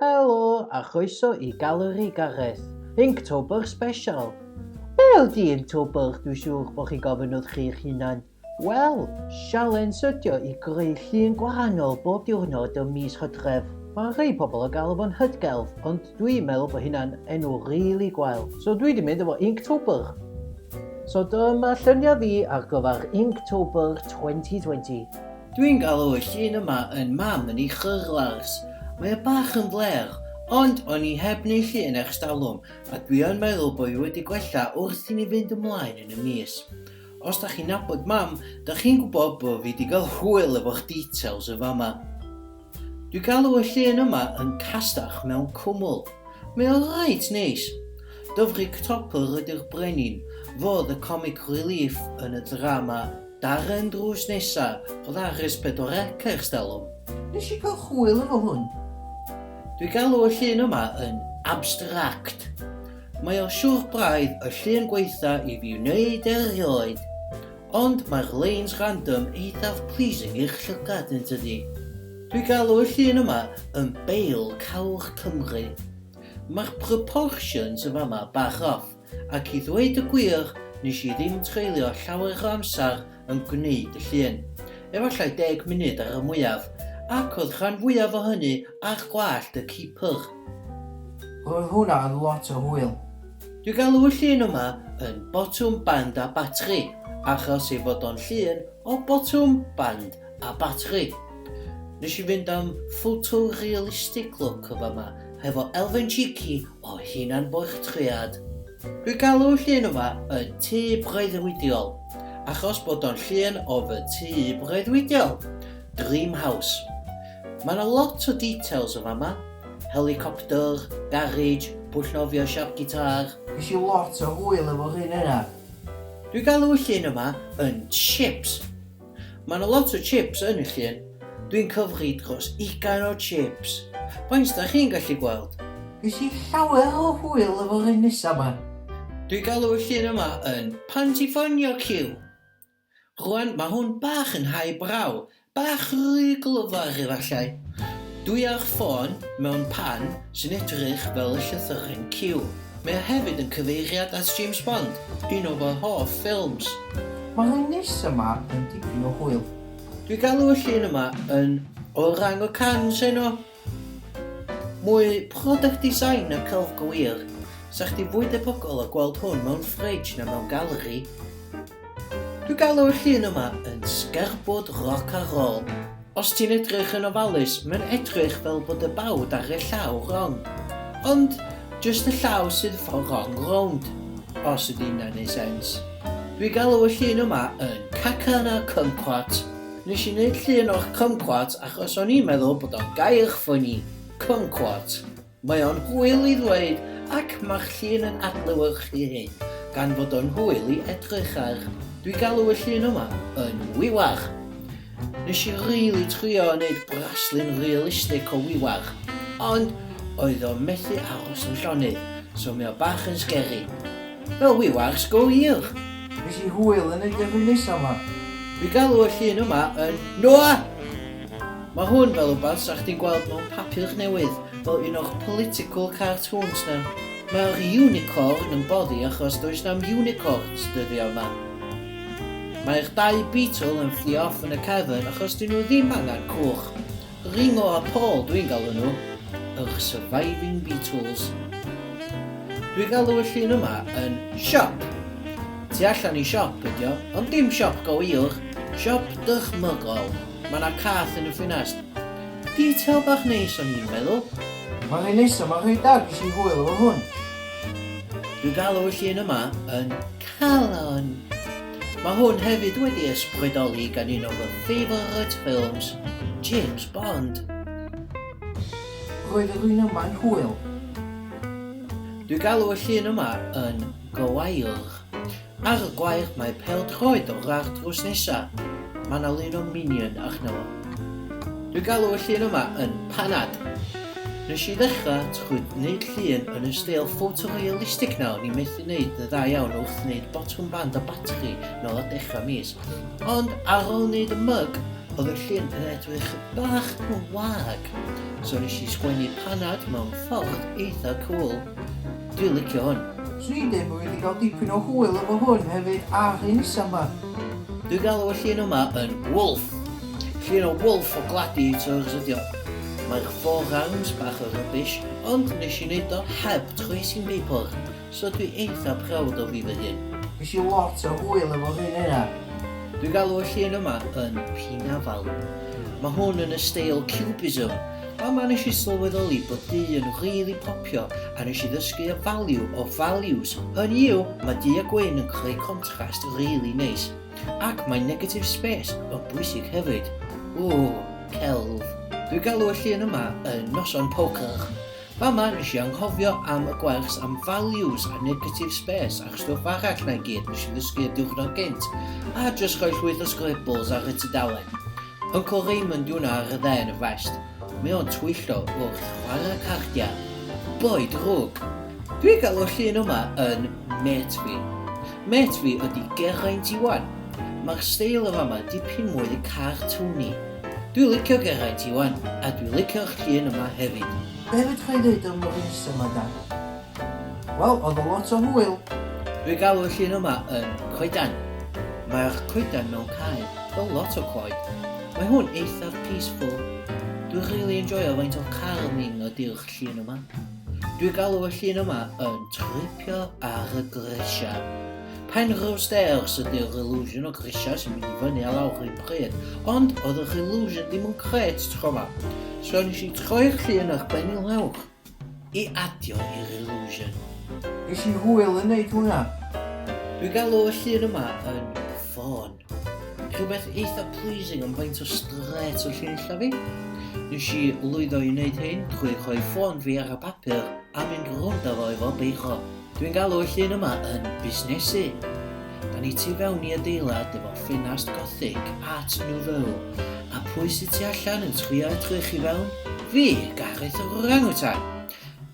Helo a chroeso i Galeri Gareth, Inktober Special! Wel, di Inktober, dwi siŵr bod chi'n gofyn wrth chi'ch hunan, wel, sialens ydio i greu llun gwahanol bob diwrnod ym mis Hydref. Mae rhei pobl yn galw fo'n Hydgelf, ond dwi'n meddwl bod hynna'n enw rili gwael, so dwi di mynd efo Inktober. So dyma lluniau fi ar gyfer Inktober 2020. Dwi'n galw y llun yma yn mam yn ei chyrlars. Mae o bach yn flêr, ond o'n i heb neu llun ers talwm a dwi yn meddwl bo i wedi gwella wrth i ni fynd ymlaen yn y mis. Os da chi'n nabod mam, da chi'n gwbod bo fi di gael hwyl efo'ch details yn fama. Dwi galw y llun yma yn castach mewn cwmwl. Mae o reit neis. Dyfrig Topr ydy'r brenin, fo oedd y comic relief yn y drama Darren drws nesa, oedd ar Res Pedwar Ec ers talwm. Nes i gael hwyl efo hwn. Dwi galw y llun yma yn abstract. Mae o siwr braidd y llun gwaetha i fi wneud erioed. Ond mae'r leins random eithaf pleasing i'r llygad yn tydi? Dwi galw y llun yma yn Bale Cawr Cymru. Mae'r proportions yn fama bach off, ac i ddweud y gwir nes i ddim treulio llawer o amser yn gwneud y llun, efallai deg munud ar y mwyaf, ac oedd rhan fwyaf o hynny ar gwallt y keeper. Roedd hwnna yn lot o hwyl. Dwi galw y llun yma yn botwm band a batri achos ei fod o'n llun o botwm band a batri. Nes i fynd am photorealistic look yn fama hefo elfen cheeky o hunan bortread. Dwi galw y llun yma yn tŷ breuddwydiol achos bod o'n llun o fy tŷ breuddwydiol, dream house. Ma 'na lot o details yn fama. Helicopter, garage, pwll nofio siap guitar. Ges i lot o hwyl efo'r un yna. Dwi gal y llun yma yn chips. Ma na lot o chips yn y llun. Dwi'n cyfri dros ugain o chips. Faint da chi'n gallu gweld? Ges i llawer o hwyl efo'r un nesa ma. Dwi galw y llun yma yn pan ti ffonio Cyw. Rwan mae hwn bach yn high brow, bach rhy glyfar efallai. Dwi ar ffôn mewn pan sy'n edrych fel y llythyren Q. Mae o hefyd yn cyfeiriad at James Bond, un o fy hoff ffilms. Mae hwn nesa ma yn dipyn o hwyl. Dwi galw y llun yma yn Orang Utans heno. Mwy product design na celf go wir. Sa chdi fwy debygol o gweld hwn mewn fridge na mewn galeri. Dwi galw y llun yma yn sgerbwd roc a rol. Os ti'n edrych yn ofalus, mae'n edrych fel bod y bawd ar y llaw wrong. Ond, jyst y llaw sydd for wrong rownd. Os ydy hynna'n neud sense. Dwi galw y llun yma yn caca na kumquat. Nes i neud llun o'ch kumquat achos o'n i'n meddwl bod o'n gair ffyni, kumquat. Mae o'n hwyl i ddweud ac mae'ch llun yn adlewyrchu hyn, gan fod o'n hwyl i edrych ar. Dwi galw y llun yma yn wiwar. Nes i rili trio neud braslun realistic o wiwar, ond oedd o methu aros yn llonydd, so mae o bach yn sgeri. Wel wi wars go wir! Nes i hwyl yn y Dyfri nesa ma! Fi galw y llun yma yn Noa! Mae hwn fel wbath sa chdi'n gweld mewn papur newydd, fel un o'ch political cartoons na. Mae'r unicorn yn boddi achos does na'm unicorns dyddiau ma. Mae'r dau beetle yn fflio off yn y cefn achos 'dyn nhw ddim angen cwch. Ringo a Paul dwi'n galw nhw, yr surviving Beatles. Dwi'n galw y llun yma yn siop. Tu allan i siop ydi o, ond dim siop go wir, siop dychmygol. Mae yna cath yn y ffinest. Detail bach neis o'n i'n meddwl. Mae rhy neis a mae rhy da, ges i hwyl efo hwn. Dwi'n galw y llun yma yn calon. Mae hwn hefyd wedi ysbrydoli gan un o fy favourite films, James Bond. Roedd rwy'n yma'n hwyl. Dwi galw y llun yma yn gwair. Ar y gwair mae pêl-droed o'r ardd drws nesa. Mae 'na lun o Minion arno fo. Dwi'n galw y llun yma yn panad. Nes i ddechrau trwy wneud llun yn y steil photorealistic nawr ni methu wneud yn dda iawn wrth wneud botwm band a batri nôl ar dechrau mis. Ond ar ôl wneud y myg, oedd y llun yn edrych bach yn wag. So nes i sgwennu panad mewn ffordd eitha cool. Dwi'n licio hwn. Swn i ddim wedi cael dipyn o hwyl efo hwn hefyd ar hyn isa ma. Dwi'n galw y llun yma yn Wolf. Llun o Wolf o gladi Turks ydi o. Mae'r forearms bach o rubbish, ond nes i neud o heb trwy sin paper, so dwi eitha proud o fi fy hun. Ges i lot o hwyl efo llun yna. Dwi'n galw y llun yma yn Pinafal. Mae hwn yn y steil Cubism, Fama nes i sylweddoli bod du yn rili popio a nes i ddysgu y value of values, hynny yw mae du a gwyn yn creu contrast rili neis. Ac mae negative space yn bwysig hefyd. Ww, celf. Dwi galw y llun yma yn noson poker. Fama nes i anghofio am y gwers am values a negative space a'r stwff arall na i gyd nes i ddysgu y diwrnod gynt a jyst rhoi llwyth o scribbles ar y tudalen. Poco Raymond yw'n ardd dda yn y West. Mae o'n twyllo wrth chwarae cardiau. Boi drwg! Dwi'n cael y llun yma yn mêt fi. Mêt fi ydi Geraint Iwan. Mae'r steil y fama dipyn mwy cartwni. Dwi'n licio Geraint Iwan a dwi'n licio'r llun yma hefyd. Be fedra i ddeud am y reis yma dan? Wel, oedd o lot o hwyl! Dwi galw y llun yma yn coedan. Mae'r coedan mewn cae, fel lot o coed. Mae hwn eithaf peaceful. Dwi really enjoyo faint o carming ydi'r llun yma. Dwi galw y llun yma yn tripio ar y grisiau. Penrhyw stairs ydy'r illusion o grisiau sy'n mynd i fyny a lawr rhywun pryd, ond oedd yr illusion ddim yn gret tro ma. So nes i troi'r llun ar benil hewch. I adio i'r illusion. Ges i hwyl yn neud hwnna. Dwi'n galw y llun yma yn ffôn. Rhywbeth eitha pleasing am faint o strêt o llun illa fi. Nes i lwyddo i wneud hyn drwy rhoi ffôn fi ar y papur a mynd rownd â fo efo beiro. Dwi'n galw y llun yma yn busnesu. Da ni tu fewn i adeilad efo ffenast gothic, art nouveau, a pwy sydd tu allan yn chwio edrych i fewn? Fi, Gareth yr orangutan!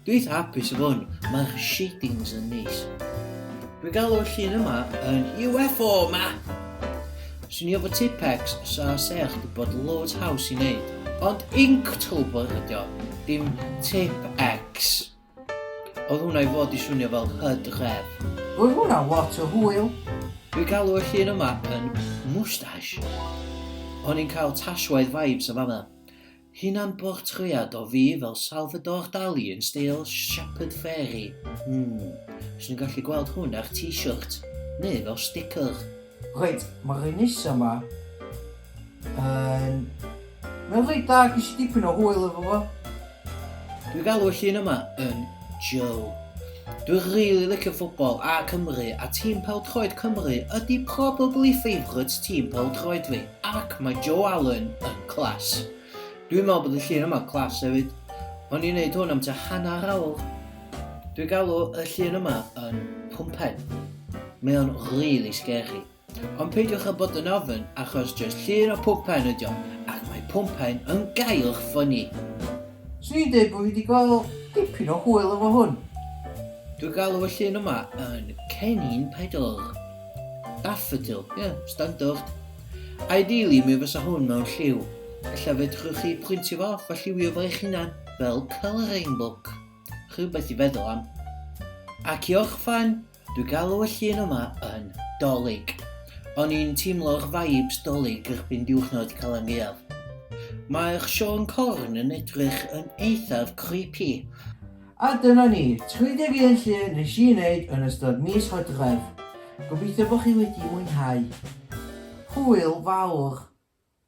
Dwi eitha hapus efo hwn, mae'r shadings yn neis. Dwi'n galw y llun yma yn UFO ma! Swn i efo Tipex, sa sech di bod loads haws i wneud. Ond Inktober ydi o, dim Tip X. Oedd hwnna i fod i swnio fel hud ghef. Oedd hwnna lot o hwyl. Dwi galw y llun yma yn moustache. O'n i'n cael Tashwaith vibes yn fanna. Hunan bortread o fi fel Salvador Dali yn steil Shepard Fairey. Hmm, swn i'n gallu gweld hwn ar t-shirt, neu fel sticker. Reit, mae'r un nesa ma yn... Mae'n reit da, ges i dipyn o hwyl efo fo. Dwi'n galw y llun yma yn Joe. Dwi'n rili really licio ffwbol a Cymru a tîm pêl-droed Cymru ydy probably favourite tîm pêl-droed fi ac mae Joe Allen yn class. Dwi'n meddwl bod y llun yma class hefyd. O'n i'n neud hwn am tua hanner awr Dwi'n galw y llun yma yn pwmpen. Mae o'n really scary. Ond peidiwch â bod yn ofyn achos just llun o pwmpen ydi o ac mae pwmpen yn gael ffynnu. Swn i'n dweud bod fi wedi gweld dipyn o hwyl efo hwn. Dwi'n galw y llun yma yn cennin pedal. Daffodil, ie, yeah, standard. Ideally mi fysa hwn mewn lliw. Ella fedrwch chi printio fo off a lliwio fo eich hunan fel colouring book. Rhywbeth i feddwl am. Ac i orffan, dwi galw y llun yma yn dolig. O'n i'n teimlo'r vibes dolig erbyn diwrnod Calan Gaeaf. Mae'r Siôn Corn yn edrych yn eithaf creepy. A dyna ni, 31 llun nes i wneud yn ystod mis Hydref. Gobeithio bod chi wedi mwynhau. Hwyl fawr!